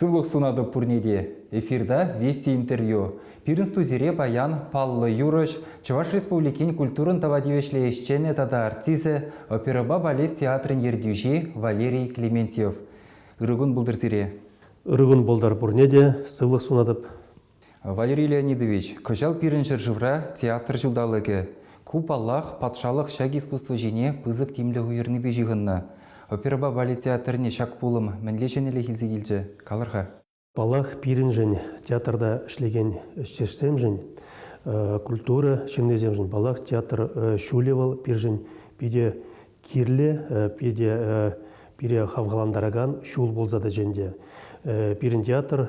Сывлӑх сунатӑп пурне те. Эфирта Вести интервью. Пирӗн студире паян паллӑ юрӑҫ, Чӑваш Республикин культурӑн тава тивӗҫлӗ ӗҫченӗ тата артисчӗ, оперӑпа балет театрӗн ертӳҫи Валерий Клементьев. Ырӑ кун пултӑр сире. Ырӑ кун пултӑр пурне те. Сывлӑх сунатӑп. Валерий Леонидович, кӑҫал пирӗн ҫӗршывра театр ҫулталӑкӗ. Ку, паллах, патшалӑх ҫак искусство ҫине пысӑк тимлӗх уйӑрнипе ҫыхӑннӑ. Оперӑпа балет театрне ҫак пулӑм мӗнле ҫӗнӗлӗх илсе килчӗ, калӑр-ха. Паллах, пирӗншӗн, театрта ӗҫлекен ӗҫтешсемшӗн, культура ҫыннисемшӗн, паллах, театр ҫулӗ вӑл пирӗншӗн питӗ кирлӗ, питӗ пире хавхалантаракан ҫул пулса тӑчӗ ӗнтӗ. Пирӗн театр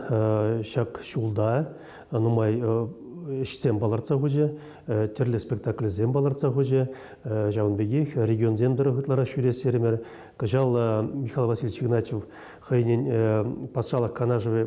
ҫак ҫулта нумай ӗҫсем палӑртса хучӗ, тӗрлӗ спектакльсем палӑртса хучӗ. Ҫавӑн пекех регионсем тӑрӑх ытларах ҫӳрес терӗмӗр. Кӑҫал Михаил Васильевич Игнатьев хӑйӗн патшалӑх канашӗ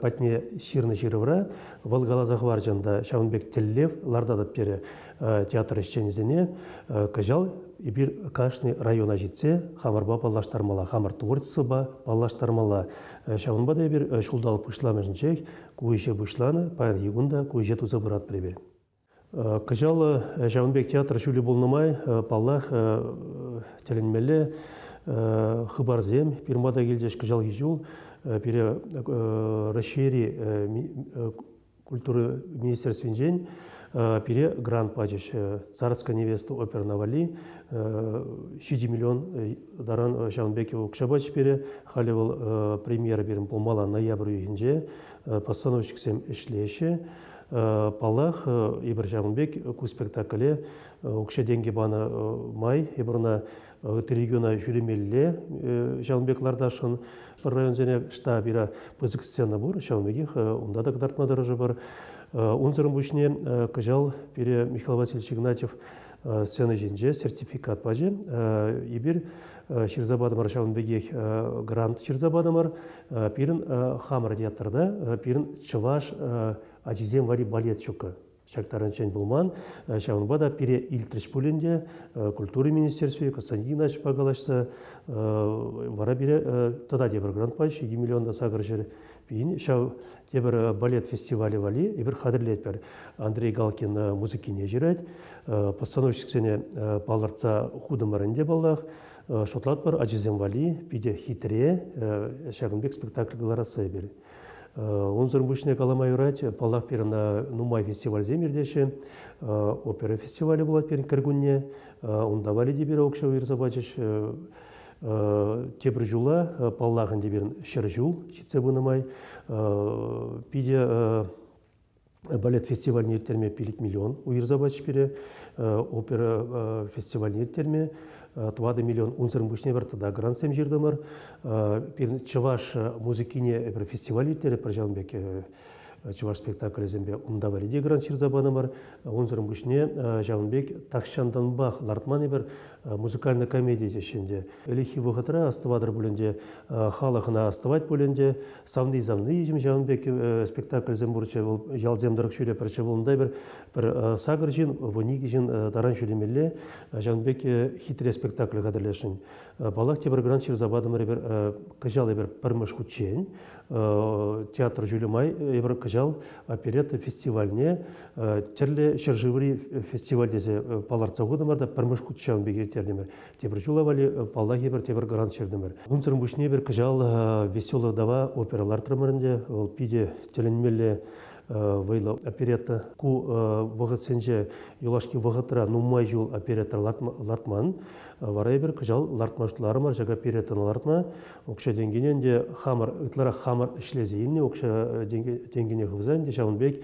патне ҫырнӑ ҫырӑвра вӑл каласа хӑварчӗ ӑнта, ҫавӑн пек тӗллев лартатӑп терӗ. театр ӗҫченӗсене кӑҫал эпир кашни района ҫитсе хамӑрпа паллаштармалла, хамӑр творчествӑпа паллаштармалла. Ҫавӑнпа та эпир ҫулталӑк пуҫламӑшӗнчех ку ӗҫе пуҫланӑ, паянхи кун та ку ӗҫе туса пыратпӑр эпир. Кӑҫал ҫавӑн пек театр ҫулӗ пулнӑ май, паллах, тӗлӗнмелле хыпарсем пирма та килчӗҫ кӑҫалхи ҫул. Пире Раҫҫейри культура министерствинчен пире грант пачӗҫ. Царская невеста оперна валли ҫичӗ миллион таран ҫавӑн пек укҫа пачӗҫ пире. Халӗ вӑл премьера пирӗн пулмалла ноябрь уйӑхӗнче постановщиксем ӗҫлеҫҫӗ. Паллах, эпир ҫавӑн пек ку спектакле укҫа-тенкӗ панӑ май эпир ӑна ытти региона ҫӳремелле. Ҫавӑн пек лартасшӑн пӗр районсене штабира пысӑк сцена пур, ҫавӑн пекех унта та кӑтартма тӑрӑшӑпӑр. Унсӑрӑн пуҫне кӑҫал пире Михаил Васильевич Игнатьев сцена ҫинче сертификат пачӗ. Эпир ҫырса патӑмӑр ҫавӑн пекех грант ҫырса патӑмӑр. Пирӗн хамӑр театрта пирӗн чӑваш ачисем валли балет ҫуккӑ. ҫак таранччен пулман. Ҫавӑнпа та пире илтрӗҫ пулин те культура министерстви Константин Ильичпа калаҫса вара пире тата тепӗр грантпа 7 миллион та сакӑр ҫӗр пин ҫав тепӗр балет фестивалӗ валли эпир хатӗрлетпӗр. Андрей Галкин музыкине ҫырать, постановщиксене палӑртса хутӑмӑрӑн те паллах, шутлатпӑр ачисем валли питӗ хитре ҫакӑн пек спектакль кӑларасса эпир. Унсӑр пуҫне калама юрать, паллах, пирӗн нумай фестивальсем иртеҫҫӗ. Опера фестивалӗ пулать пирӗн кӗркунне. Унта Валеди пирок шоу иртсе пачӗҫ. Тепӗр ҫула, паллах ӗнтӗ, пирӗн ҫӗр ҫул ҫитсе пынӑ май, питӗ балет фестивальне ирттерме пилӗк миллион уйӑрса пачӗҫ пире. Опера фестивальне ирттерме тӑватӑ миллион унсӑрӑн пуҫне пӗр тата грантсем ҫыртӑмӑр. Пирӗн чӑваш музыкине эпир фестиваль ирттеретпӗр ҫавӑн пек чӑваш спектаклӗсемпе унта валли те грант ҫырса панӑмӑр. Унсӑрӑн пуҫне ҫавӑн пек тахҫантанпах лартман эпир музыкальная комедия теҫҫӗ ӗнтӗ. Ӗлӗкхи вӑхӑтра астӑватӑр пуль ӗнтӗ, халӑх ӑна астӑвать пуль ӗнтӗ, савни-савни ҫавӑн пек э, спектакльсем пурччӗ вӑл ялсем тӑрӑх ҫӳре пӗрччӗ вӑл унтай пӗр пӗр э, сакӑр ҫын вуникӗ ҫын э, таран ҫӳремелле ҫавӑн пек хитре спектакль хатӗрлесшӗн паллах тепӗр грант ҫырса патӑмӑр эпир кӑҫал эпир пӗрмӗш хутчен театр ҫулӗ май эпир кӑҫал оперетта фестивальне тӗрлӗ ҫӗршыври фестиваль тесе палӑртса хутӑмӑр та пӗрмӗш хут ҫавӑн пек ирттертӗмӗр Тепӗр ҫула валли э, паллахи пӗр тепӗр грант ҫыртӑмӑр. Унсӑрӑн пуҫне пӗр кӑҫал э, веселый дава опера лартрӑмӑр ӗнтӗ. Вӑл питӗ тӗлӗнмелле вӑйлӑ оперетта. Ку вӑхӑтсенче юлашки вӑхӑтра нумай ҫул оперетта лартман. Вара эпир кӑҫал лартма шутларӑмӑр ҫак опереттӑна лартма. Укҫа-тенкине ӗнтӗ хамӑр, ытларах хамӑр ӗҫлесе илнӗ укҫа-тенкине хывса ӗнтӗ ҫавӑн пек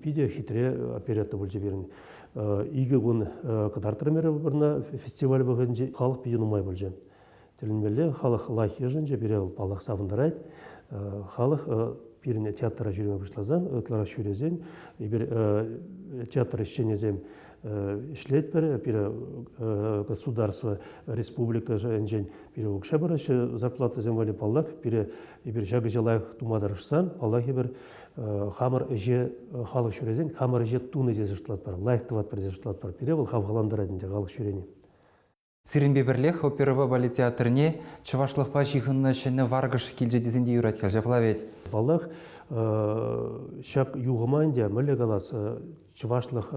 питӗ хитре оперетта пулчӗ пирӗн. Икӗ кун кӑтартрӑм эпӗ вырӑна фестиваль вӑхӑтӗнче халӑх питӗ нумай пулчӗ. Тӗлӗнмелле халӑх лайӑх йышӑнчӗ, пире вӑл паллах савӑнтарать. Халӑх пирӗн театра ҫӳреме пуҫласан, ытларах ҫӳресен, эпир театр ӗҫченӗсем ӗҫлетпӗр, пире государство, республика шайӗнчен пире укҫа параҫҫӗ зарплатӑсем валли, паллах, пире Эпир ҫакӑ лайӑх тума тӑрӑшсан, паллах, эпир хамӑр ӗҫе халӑх ҫӳресен хамӑр ӗҫе туни тесе шутлатпӑр, лайӑх тӑватпӑр тесе шутлатпӑр. Пире вӑл хавхалантарать ӗнтӗ халӑх ҫӳрени. Сирӗнпе пӗрлех Оперӑпа балет театрне чӑвашлӑхпа ҫыхӑннӑ ҫӗнӗ варкӑш килчӗ тесен те юрать-ха ҫапла вӗт? Паллах, ҫак юхӑма ӗнтӗ мӗнле калас, чӑвашлӑх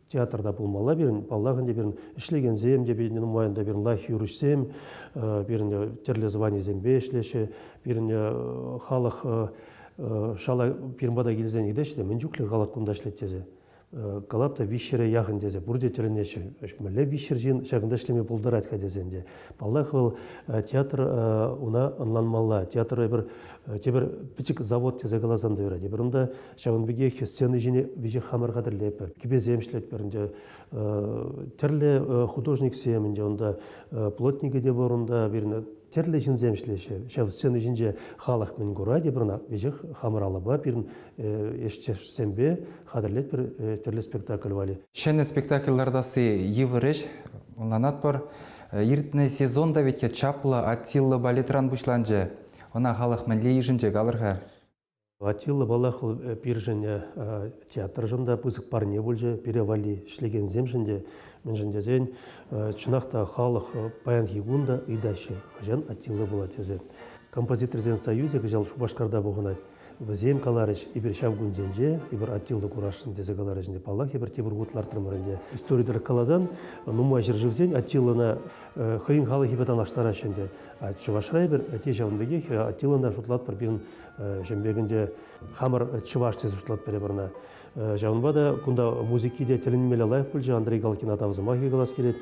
Театрта пулмалла пирӗн, паллах ӗнтӗ пирӗн ӗҫлекенсем те нумайӑн та пирӗн лайӑх юрӑҫсем, пирӗн тӗрлӗ званисемпе ӗҫлеҫҫӗ, пирӗн халӑх шала пирӗн пата килсен ыйтаҫҫӗ те мӗн чухлӗ халӑх кунта ӗҫлет тесе. Калап та виҫҫӗре яхӑн тесе пурте тӗлӗнеҫҫӗ. Мӗнле виҫҫӗр ҫын ҫакӑнта ӗҫлеме пултарать-ха тесен те. Паллах, вӑл театр уна ӑнланмалла. Театр эпир тепӗр пӗчӗк завод тесе каласан та юрать. Эпир унта Ҫавӑн пекех сцена ҫине веҫех хамӑр хатӗрлетпӗр, кӗпесем ӗҫлетпӗр ӗнтӗ. Тӗрлӗ художниксем ӗнтӗ унта, плотникӗ те пур унта, пирӗн тӗрлӗ ҫынсем ӗҫлеҫҫӗ. Ҫав сцена ҫинче халӑх мӗн курать пӗр ӑна веҫех хамӑр алӑпа пирӗн ӗҫтешсемпе хатӗрлетпӗр тӗрлӗ спектакль валли. Ҫӗнӗ спектакль лартасси йывӑр ӗҫ, ӑнланатпӑр. Иртнӗ сезон та вӗт чаплӑ Аттилла балетран пуҫланчӗ. Ӑна халӑх мӗнле йышӑнчӗ, калӑр-ха? Атилла, паллах, вӑл пирӗншӗн театршӑн та пысӑк парне пулчӗ. Пире валли ӗҫлекенсемшӗн те, мӗншӗн тесен чӑнах та халӑх паянхи кун та ыйтаҫҫӗ, хӑҫан Атилла пулать тесе. Композиторсен союзӗ кӑҫал Шупашкарта пухӑнать. Вӗсем каларӗҫ, эпир ҫав кунсенче эпир Атилла курасшӑн тесе каларӗҫ ӗнтӗ. Паллах, эпир тепӗр хут лартрӑмӑр ӗнтӗ. Истори тӑрӑх каласан, нумай ҫӗршывсен Атиллана хӑйӗн халӑхӗпе танлаштараҫҫӗ ӗнтӗ. А Чӑвашра эпир те ҫавӑн пекех Атиллана шутлатпӑр пирӗн Ҫӗмпекӗнче хамӑр чӑваш тесе шутлап пӗре пӑрна. Ҫавӑнпа та кунта музыки те тӗлӗнмелле лайӑх пулчӗ. Андрей Галкина тав сӑмахӗ калас килет.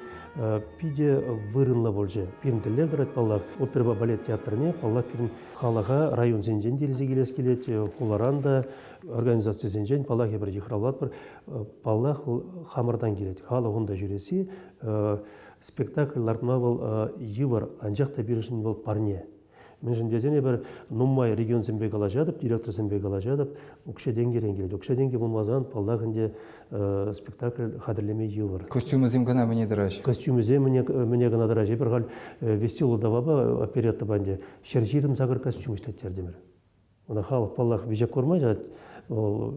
Питӗ вырӑнлӑ пулчӗ. Пирӗн тӗллев тӑрать паллах оперӑпа балет театрне, паллах пирӗн халӑха районсенчен те илсе килес килет, хуларан та, организацисенчен паллах эпир йыхравлатпӑр. Паллах хамӑртан килет. Халӑх унта ҫӳресси спектакль лартма вӑл йывӑр, анчах та пирӗншӗн вӑл парне. Мӗншӗн тесен эпир нумай регионсемпе калаҫатӑп, директорсемпе калаҫатӑп, укҫа-тенкӗрен килет. Укҫа-тенкӗ пулмасан, паллах, ӗнтӗ спектакль хатӗрлеме йывӑр. Костюмӗсем кӑна мӗне тӑраҫҫӗ? Костюмӗсем мӗне, мӗне кӑна тӑраҫҫӗ. Эпир халь веселый давапа опереттӑпа ӗнтӗ ҫӗр ҫирӗм сакӑр костюм ӗҫлеттертӗмӗр. Ӑна халӑх, паллах, виҫе курмасть, вӑл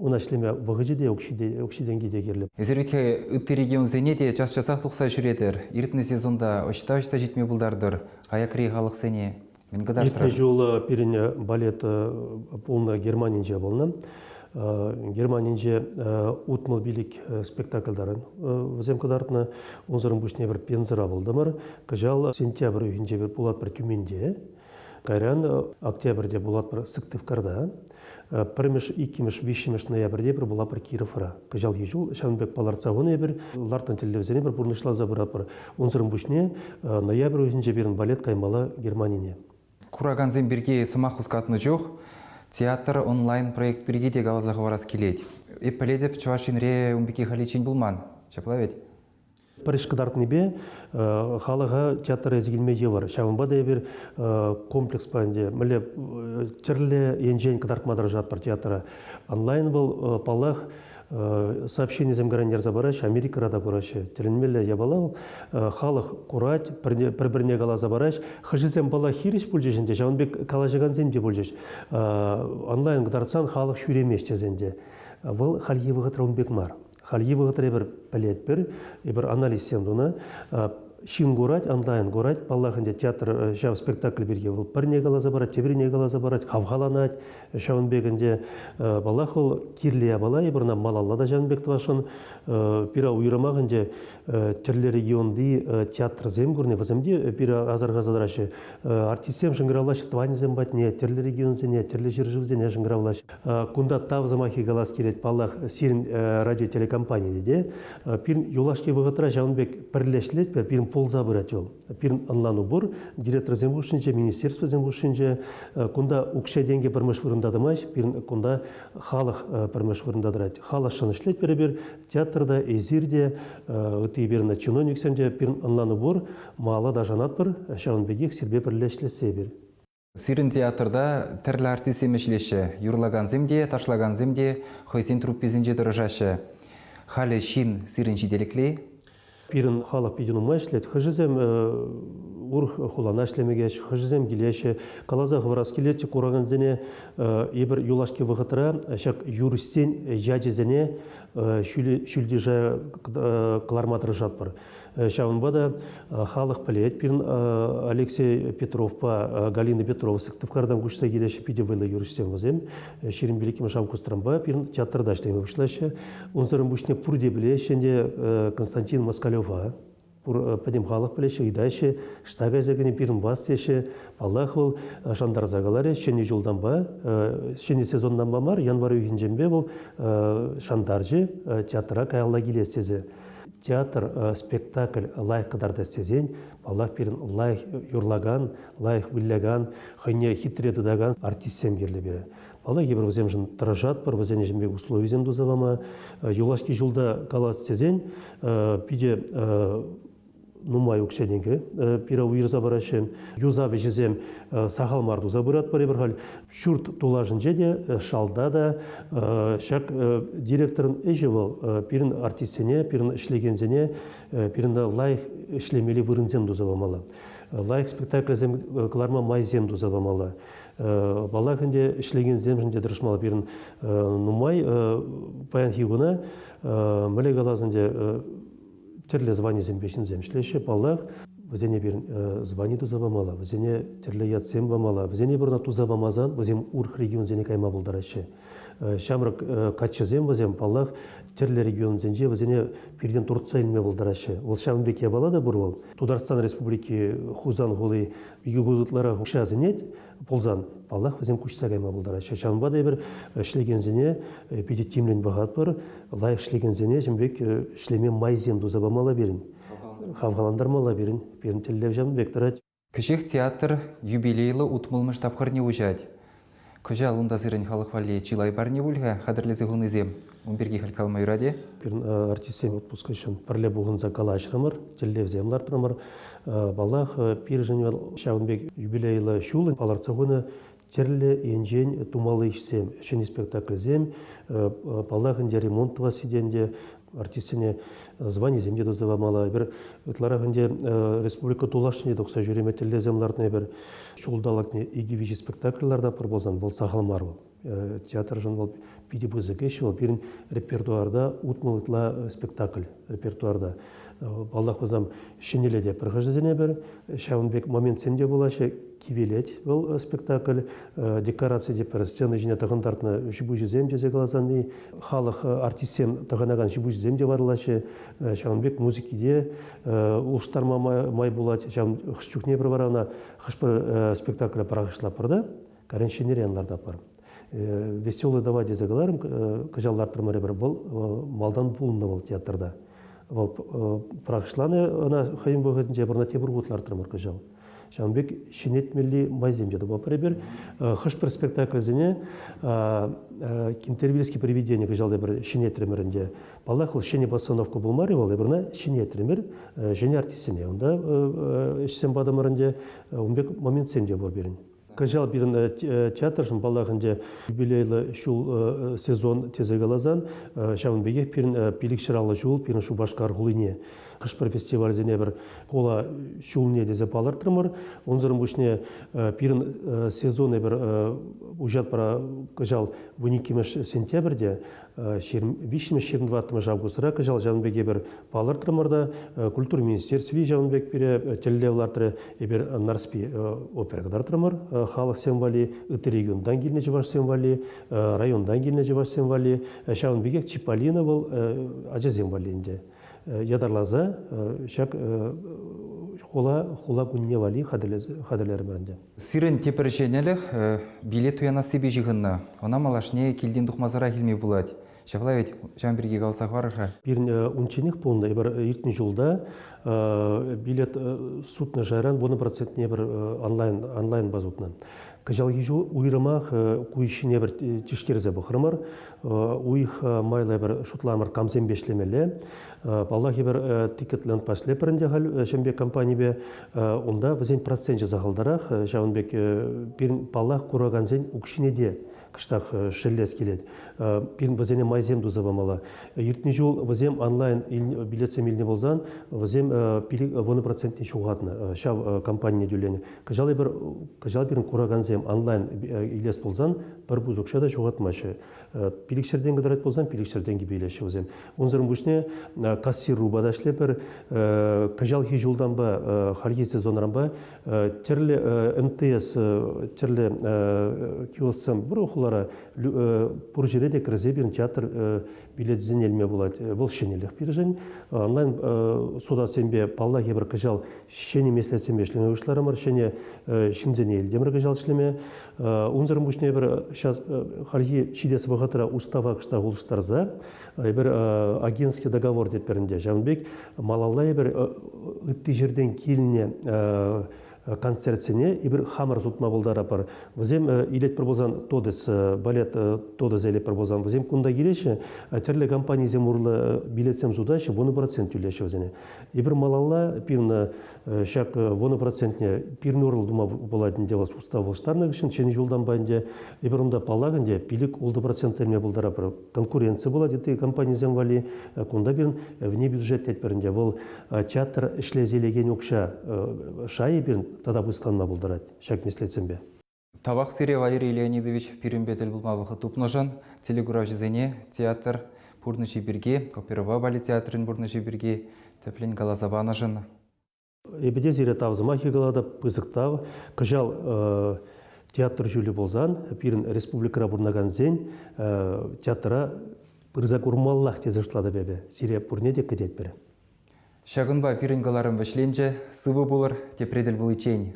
ӑна ӗҫлеме вӑхӑчӗ те, укҫи-тенки те кирлӗ. Эсир икӗ ытти регионсене те час-часах тухса ҫӳретӗр, иртнӗ сезонта ӑҫта-ӑҫта ҫитме пултартӑр аякри халӑхсене? Мӗн кӑтартрӑр? Иртнӗ ҫул пирӗн балет пулнӑ Германинче пулнӑ. Германинче утмӑл пилӗк спектакль вӗсем кӑтартнӑ. Унсӑрӑн пуҫне пӗр Пензӑра пултӑмӑр. Кӑҫал сентябрь уйӑхӗнче пулатпӑр Тюменьте. Кайран октябрьте пулатпӑр Сыктывкарта, пӗрмӗш, иккӗмӗш, виҫҫӗмӗш ноябрьте пӗр пулатпӑр Кировра. Кӑҫалхи ҫул ҫавӑн пек палӑртса хунӑ эпир, лартнӑ тӗллевсене пӗр пурнӑҫласа пыратпӑр. Унсӑрӑн пуҫне ноябрь уйӑхӗнче пирӗн балет каймалла Германине. Куракансем пирки сӑмах хускатнӑ чух театр онлайн-проект пирки те каласа хӑварас килет. Эп пӗлетӗп, Чӑваш Енре ун пирки халиччен пулман. Ҫапла вӗт? Пӗрӗш кӑтартнипе халӑха театр эсӗ килме йывӑр. Ҫавӑнпа та эпир комплекспа ӗнтӗ мӗнле тӗрлӗ енчен кӑтартма тӑрӑшатпӑр театра. Онлайн вӑл, паллах, сообщенисем кӑрантарса параҫҫӗ, Америкӑра та кураҫҫӗ. Тӗлӗнмелле япала вӑл. Халӑх курать, пӗр-пӗрне каласа параҫ. Хӑшӗсем, паллах, хирӗҫ пулчӗҫ ӗнтӗ, ҫавӑн пек калаҫакансем те пулчӗҫ. Онлайн кӑтартсан халӑх ҫӳремест тесен те. Вӑл хальхи вӑхӑтра ун пек мар. Хальхи вӑхӑтра эпир пӗлетпӗр, эпир анализсем тунӑ. Ҫын курать, онлайн курать. Паллах, ӗнтӗ театр ҫав спектакль пирки вӑл пӗрне каласа парать, теприне каласа парать, хавхаланать. Ҫавӑн пек ӗнтӗ, паллах, вӑл кирлӗ япала, эпир ӑна малалла та ҫавӑн пек тӑвасшӑн. Пире уйрӑмах ӗнтӗ тӗрлӗ регионти театрсем курни, вӗсем те пире асӑрхаса тӑраҫҫӗ. Артистсем шӑнкӑравлаҫҫӗ тӑванӗсем патне, тӗрлӗ регионсене, тӗрлӗ ҫӗршывсене шӑнкӑравлаҫҫӗ. Кунта тав сӑмахи калас килет, паллах, сирӗн радиотелекомпанийӗ те. Пирӗн юлашки вӑхӑтра ҫавӑн пек пӗрлештеретпӗр, пирӗн пулса пырать вӑл. Пирӗн ӑнлану пур, директорсен хушшинче, министерствосен хушшинче. Кунта укҫа-тенкӗ пӗрмеш вырӑнта тӑмасть, пирӗн кунта халӑх пӗрмеш вырӑнта тӑрать. Халӑхшӑн ӗҫлетпӗр эпир, театрта, эсир те, ытти эпир чиновниксем те, пирӗн ӑнлану пур, малалла та шанатпӑр, ҫавӑн пекех сирпе пӗрле ӗҫлессе эпир. Сирӗн театрта тӗрлӗ артистсем ӗҫлеҫҫӗ. Юрлакансем те, ташлакансем те хӑйсен трупписенче тӑрӑшаҫҫӗ. Халӗ ҫын сирӗн ҫителӗкли? Пирӗн халӑх питӗ нумай ӗҫлет. Хӑшӗсем урӑх хулана ӗҫлеме кӗҫ, хӑшӗсем килеҫҫӗ. Каласа хӑварас килет, куракансене эпир юлашки вӑхӑтра ҫак юрӑҫсен ячӗсене ҫӳлти шая кӑларма тӑрӑшатпӑр. Ҫавӑнпа та халӑх пӗлет пирӗн Алексей Петровпа Галина Петрова Сыктывкартан куҫса килеҫҫӗ питӗ вӑйлӑ юрӑҫсем вӗсем. Ҫирӗм пилӗкмӗш августранпа пирӗн театрта ӗҫлеме пуҫлаҫҫӗ. Унсӑрӑн пуҫне пурте пӗлеҫҫӗ ӗнтӗ Константин Москалева пур пӗтӗм халӑх пӗлеҫҫӗ, ыйтаҫҫӗ, штаб кайса кӗнӗ пирӗн вас теҫҫӗ. Паллах, вӑл шантарса каларӗ, ҫӗнӗ ҫултанпа, ҫӗнӗ сезонтанпа мар, январь уйӑхӗнченпе вӑл шантарчӗ театра каялла килес тесе. Театр спектакль лайӑх кӑтартас тесен, паллах, пирӗн лайӑх юрлакан, лайӑх вылякан, хӑйне хитре тытакан артистсем кирлӗ пирӗн. Паллах, эпир вӗсемшӗн тӑрӑшатпӑр, вӗсен ӗҫӗн пек условисем туса пама. Юлашки ҫулта калас тесен, питӗ нумай укҫа-тенкӗ пира уйӑрса параҫҫӗ. Юсав ӗҫӗсем сахал мар туса пыратпӑр эпир халь. Ҫурт тулашӗнче те, шалта та ҫак директорӑн ӗҫӗ вӑл пирӗн артистсене, пирӗн ӗҫлекенсене пирӗн лайӑх ӗҫлемелли вырӑнсем туса памалла лайӑх спектакльсем кӑларма майсем туса памалла. Паллах ӗнтӗ ӗҫлекенсемшӗн те тӑрӑшмалла пирӗн нумай паянхи куна мӗнле калас ӗнтӗ тӗрлӗ званисемпе ҫынсем ӗҫлеҫҫӗ. Паллах, вӗсене пирӗн звани туса памалла, вӗсене тӗрлӗ ятсем памалла. Вӗсене пурӑна туса памасан вӗсем урӑх регионсене кайма пултараҫҫӗ. Ҫамрӑк каччӑсем вӗсем, паллах, тӗрлӗ регионсенче вӗсене пиртен туртса илме пултараҫҫӗ. Вӑл ҫавӑн пек япала та пур вӑл. Тутарстан Республики Хусан хули икӗ кун ытларах укҫа сӗнет. пулсан, паллах, вӗсем куҫса кайма пултараҫҫӗ. Ҫавӑнпа та эпир ӗҫлекенсене питӗ тимлӗн пӑхатпӑр, лайӑх ӗҫлекенсене ҫын пек ӗҫлеме майсем туса памалла пирӗн, хавхалантармалла пирӗн. Пирӗн тӗллев ҫавӑн пек тӑрать. Кӗҫех театр юбилейлӑ утмӑлмӗш тапхӑрне уҫать. Кӑҫал унта сирӗн халӑх валли чылай парне пуль-ха хатӗрлесе хунисем? Ун пирки халь калама юрать-и? Пирӗн артистсем отпуска ҫын пӗрле пухӑнса калаҫрӑмӑр, тӗллевсем лартрӑмӑр. Паллах, пирӗн вӑл ҫавӑн пек юбилейлӑ ҫул палӑртса хунӑ тӗрлӗ енчен тумалли ӗҫсем, ҫӗнӗ спектакльсем, паллах ӗнтӗ ремонт тӑвасси те ӗнтӗ артистсене званисем те туса памалла. Эпир ытларах ӗнтӗ республика тулашне тухса ҫӳреме тӗллевсем лартнӑ. Эпир ҫулталӑкне икӗ-виҫӗ спектакль лартапӑр пулсан вӑл сахал мар вӑл. театршӑн вӑл питӗ пысӑк ӗҫ. Вӑл пирӗн репертуарта утмӑл ытла спектакль репертуарта. Паллах, вӑсам ҫӗнӗлӗте пӑрхӑҫӑсене пӗр, ҫавӑн пек моментсем те пулаҫҫӗ. Кивелет вӑл спектакль, декораци те пӗр сцена ҫине тӑхӑнтартнӑ ҫипуҫӗсем тесе каласан, халӑх артистсем тӑхӑнакан ҫипуҫӗсем те варалаҫҫӗ. Ҫавӑн пек музыки те улӑштарма май пулать. Ҫавӑн хӑш чухне пӗр вара ӑна хӑш-пӗр спектакля пӑрахӑҫлатпӑр та. Каранчинерен лартапӑр. Веселый давай тесе каларӑм, кӑҫал лартрӑмӑрӗпӗр. Вӑл малтан пулнӑ вӑл театрта. Вӑл пӑрахӑҫланӑ ӑна хӑйӗн вӑхӑтӗнче пурӑна тепӗр хут лартрӑмӑр кӑҫал. Ҫавӑн пек ҫӗнетмелли майсем те тупапӑр эпир. Хӑш-пӗр спектакльсене Кентервильский привидение кӑҫал эпир ҫӗнетрӗмӗр ӗнтӗ. Паллах, вӑл ҫӗнӗ постановка пулмарӗ вӑл, эпир ӑна ҫӗнетрӗмӗр ҫӗнӗ артистсене. Унта ӗҫсем патӑмӑр ӗнтӗ. Ун пек моментсем те пур пирӗн. Кӑҫал пирӗн театршӑн, паллах, ӗнтӗ юбилейлӑ ҫул сезон тесе каласан, ҫавӑн пекех пирӗн пилӗкҫӗраллӑ ҫул пирӗн Шупашкар хулине хӑш-пӗр фестивальсене пӗр хула ҫулне тесе палӑртрӑмӑр. Унсӑрӑн пуҫне пирӗн сезонӗ пӗр уҫатпӑра кӑҫал вун иккӗмӗш сентябрьте виҫмӗш-ҫырӑнтӑваттӑмӗш августра кӑҫал ҫавӑн пек эпир палӑртрӑмӑр та культура министерстви ҫавӑн пек пире тӗллев лартрӗ эпир Нарспи опера кӑтартрӑмӑр халӑхсем валли ытти регионтан килнӗ чӑвашсем валли районтан килнӗ чӑвашсем валли ҫавӑн пекех Чиполлино вӑл ачасем валли ӗнтӗ ятарласа ҫак хула хула кунне валли хатӗрлерӗмӗр ӗнтӗ Сирӗн тепӗр ҫӗнӗлӗх билет туянассипе ҫыхӑннӑ. Ӑна малашне килтен тухмасӑрах илме пулать. Ҫапла вӗт, ҫавӑн пирки каласа хӑвар-ха. Пирӗн унчченех пулнӑ, эпир иртнӗ ҫулта билет сутнӑ шайран вунӑ процентне пӗр онлайн, онлайнпа сутнӑ. Кӑҫалхи ҫул уйрӑмах ку ӗҫҫине пӗр тишкерсе пӑхрӑмӑр. Уйӑха майлӑ эпир шутламӑр камсемпе ӗҫлемелле. Паллах, эпир тикет лентпа ӗҫлеппӗр ӗнтӗ халь ҫӗнӗ пек компанипе. унта вӗсен проценчӗ сахалтарах, ҫавӑн пек пирӗн, паллах, куракансен укҫине те кӑштах шеллес килет. Пирӗн вӗсене майсем туса памалла. Иртнӗ ҫул вӗсем онлайн билетсем илнӗ пулсан, вӗсем пилӗк вунӑ процентне ҫухатнӑ ҫав компанине тӳленӗ. Кӑҫал эпир, кӑҫал пирӗн куракансем онлайн илес пулсан пӗр пус укҫа та ҫухатмаҫҫӗ. Пилӗкҫӗртен кӑтарать пулсан пилӗкҫӗр тенкӗпе илеҫҫӗ вӗсем. Унсӑрӑн пуҫне кассирупа та ӗҫлепӗр. Кӑҫалхи ҫултанпа, хальхи сезонранпа тӗрлӗ МТС, тӗрлӗ киосксем пур хулара. Пур ҫӗре те кӗрсе пирӗн театр билетӗсене илме пулать. Вӑл ҫӗнӗлӗх пирӗн. Онлайн сутассемпе паллах эпир кӑҫал ҫӗнӗ меслетсемпе ӗҫлеме пуҫларӑмӑр. Ҫӗнӗ ҫынсене илтӗмӗр кӑҫал ӗҫлеме. Унсӑр пуҫне эпир сейчас хальхи ҫитес вӑхӑтра устава кӑштах улӑштарса эпир агентский договор тетпӗр ӗнтӗ. Ҫавӑн пек малалла эпир ытти ҫӗртен килнӗ концертсене эпир хамӑр сутма пултаратпӑр. Вӗсем илетпӗр пулсан Тодес, балет Тодес илетпӗр пулсан вӗсем кунта килеҫҫӗ, тӗрлӗ компанисем урлӑ билетсем сутаҫҫӗ, вунӑ процент тӳлеҫҫӗ вӗсене. Эпир малалла пирӗн ҫак вунӑ процентне пирӗн урлӑ тума пулать ӗнтӗ вӑл устав улӑштарнӑ хыҫҫӑн ҫӗнӗ ҫултанпа ӗнтӗ эпир унта паллах ӗнтӗ пилӗк ултӑ процента илме пултаратпӑр конкуренци пулать ытти компанисем валли кунта пирӗн вне бюджет тетпӗр ӗнтӗ вӑл театр ӗҫлесе илекен укҫа шайӗ пирӗн тата пысӑкланма пултарать ҫак меслетсемпе. Тавах сире, Валерий Леонидович, пирӗнпе тӗл пулма вӑхӑт тупнӑшӑн, телекуравҫӑсене театр пурнӑҫӗ пирки, оперӑпа балет театрӗн пурнӑҫӗ пирки тӗплӗн каласа панӑшӑн. Эпӗ те сире тав сӑмахӗ калатӑп, пысӑк тав. Кӑҫал театр ҫулӗ пулсан пирӗн республикӑра пурӑнакансен театра пырса курмаллах тесе шутлатӑп эпӗ. Сире пурне те кӗтетпӗр. Ҫакӑнпа пирӗн кӑларӑм вӗҫленчӗ. Сывӑ пулӑр, тепре тӗл пуличчен.